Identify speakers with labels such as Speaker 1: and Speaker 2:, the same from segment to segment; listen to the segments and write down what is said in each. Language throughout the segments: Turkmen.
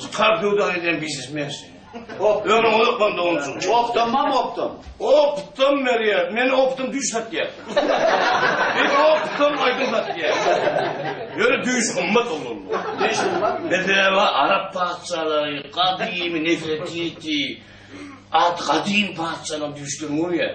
Speaker 1: Çykar göwdäňi diýen bisis mensi. Ömrüň uzak bolsun doganjyk. Opdam mam opdam.
Speaker 2: Opdam
Speaker 1: berýär. Men opdam düýş satýar. Men opdam aýdym satýar. Ýöne düýş gymmat oglan. Düýş gymmatmy?
Speaker 2: Bedrewa arap
Speaker 1: patyşalary, gadymy Nefertiti, at gadym patyşalaryň düýşlerini görýär.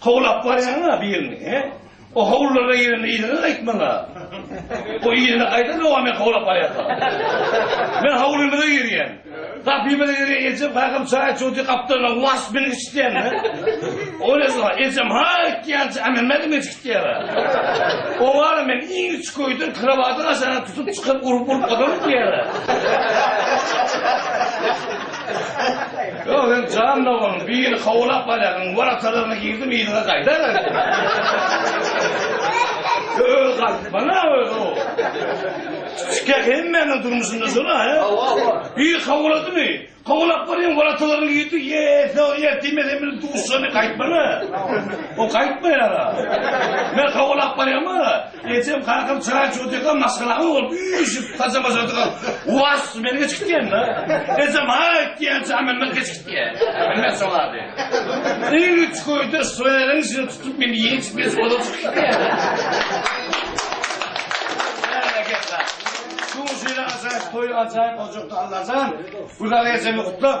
Speaker 1: Howlap barýaň-a birini, he? O howlulara girende yzyňa gaýtmaň-a. O yzyna gaýdan dowam et howlap barýarka. Men howlymyza girýän. Gapymyza girýän ejem kakam çaý çudy gapdalyndan was bilin içýän-de. O näme, ejem ha etýänçä ämenmäge mejgitýär-a. O wara men iň içgöýden krowatyň aşagyna tutup çykyp urup-urup oturyp diýýär-a. Ýok, sen jan doganym, biri howlap barýaryn, warakalaryna girdim, yzyna gaýdaryn. Öz galdy, bana öz o. Şikek hemmäniň durmuşynda şola, he? Bir howladymy? Howlap barýan warakalaryna girdi, ýese, ýertime sen bilen duşuşany gaýtmana. O gaýtmaýar-a. Men howlap barýarym-a. Ejem kakam çaý içiotyrka maşgalaňa bolup üýşüp saçam başardyka was meni geçgitýän da. Ejem haýt diýençä Mämmet geçgitýä. Mämmet şolady. Iň üç köýde şweriň içine tutup meni ýençip ýençip ozal çykyp gitýä. Berekella. Şuň şeýle ajaýyp toýy ajaýyp ojakda Allajan Gülala ejemi gutlap